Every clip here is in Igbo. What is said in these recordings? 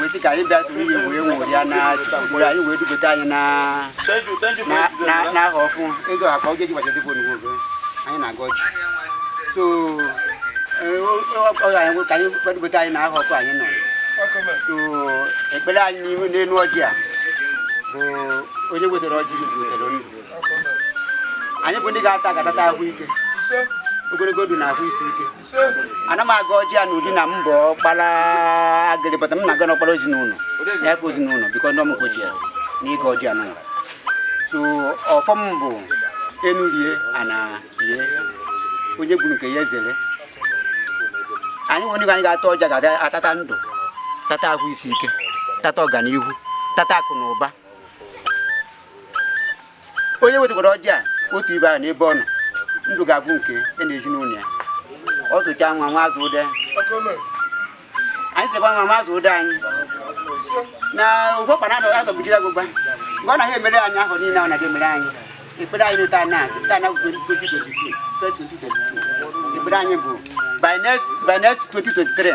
weti ka anyị bịatụrụ ihe wee nwụrịa na mgbe anyị wee dubata anyị na ahọ ọfụụ ego akpa oge gị gbachata fon nwoke anyị na-agọ ọjị so ọkọrọ anyị ka anyị kwadobata anyị na ahọ ọfụụ anyị nọ so ekpere anyị n'ihu n'elu ọjị a bụ onye wetara ọjị wetara ndụ anyị bụ ndị ga-ata ya ga-atata ahụ ike ogologo ndụ na ahụ isi ike ana m agọ ọjị a n'ụdị na m bụ ọkpara agịrị bata m na-agọ n'ọkpara ezinụlọ na-efe ezinụlọ biko ndị ọmụgwọ ji ya n'ịgọ ọjị a n'ụwa so ọfọ m bụ enu rie ana rie onye gburu nke ya ezere anyị nwere anyị ga-ata ọjị a ga-atata ndụ tata ahụ isi ike tata ọganihu tata akụ na ụba onye wetagoro ọjị a otu ibe ahụ n'ebe ọ nọ ndụ ga-abụ nke ya na ezinụlọ ya ọ tụcha nwa nwa azụ ụdị anyị chekwa nwa nwa azụ ụdị anyị na ụgwọkpa na adọgbujiri agwụgwa mgbe ọ naghị emere anyị ahọ niile ọ na-emere anyị ekpere anyị n'ụta na ụta na 2022 ekpere anyị bụ by next by next 2023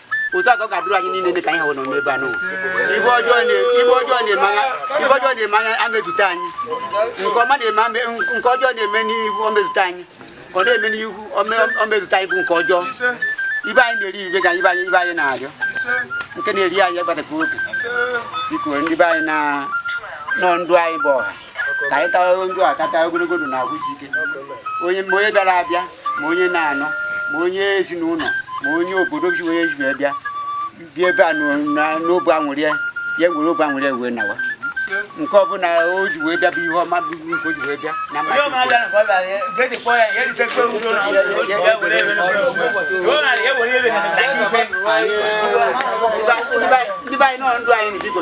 otu a ka ọ ga-adịrị anyị niile dị ka anyị hụrụ nọ n'ebe a nọ ife ọjọọ na-eme anya ife ọjọọ na-eme anya amezute anyị nke ọma na-eme nke ọjọọ na-eme n'ihu omezute anyị ọ na-eme n'ihu omezute anyị bụ nke ọjọọ ife anyị na-eri ibe ga ibe anyị ife anyị na-arịọ nke na-eri anyị agbatakwa oge biko ndị be anyị na nọ ndụ anyị bụ ọha ka anyị tawa ọjị a tata ogologo ndụ na ahụ isi ike onye ma onye bịara abịa ma onye nọ anọ ma onye ezinụlọ ma onye obodo ji onye ji wee bịa bịa ebe a n'obi aṅụrị ya ya were obi aṅụrị ya wee nawa nke ọbụla o ji wee bịa bụ ihe ọma bụ nke o ji wee bịa na ndị be anyị nọ ndụ anyị na biko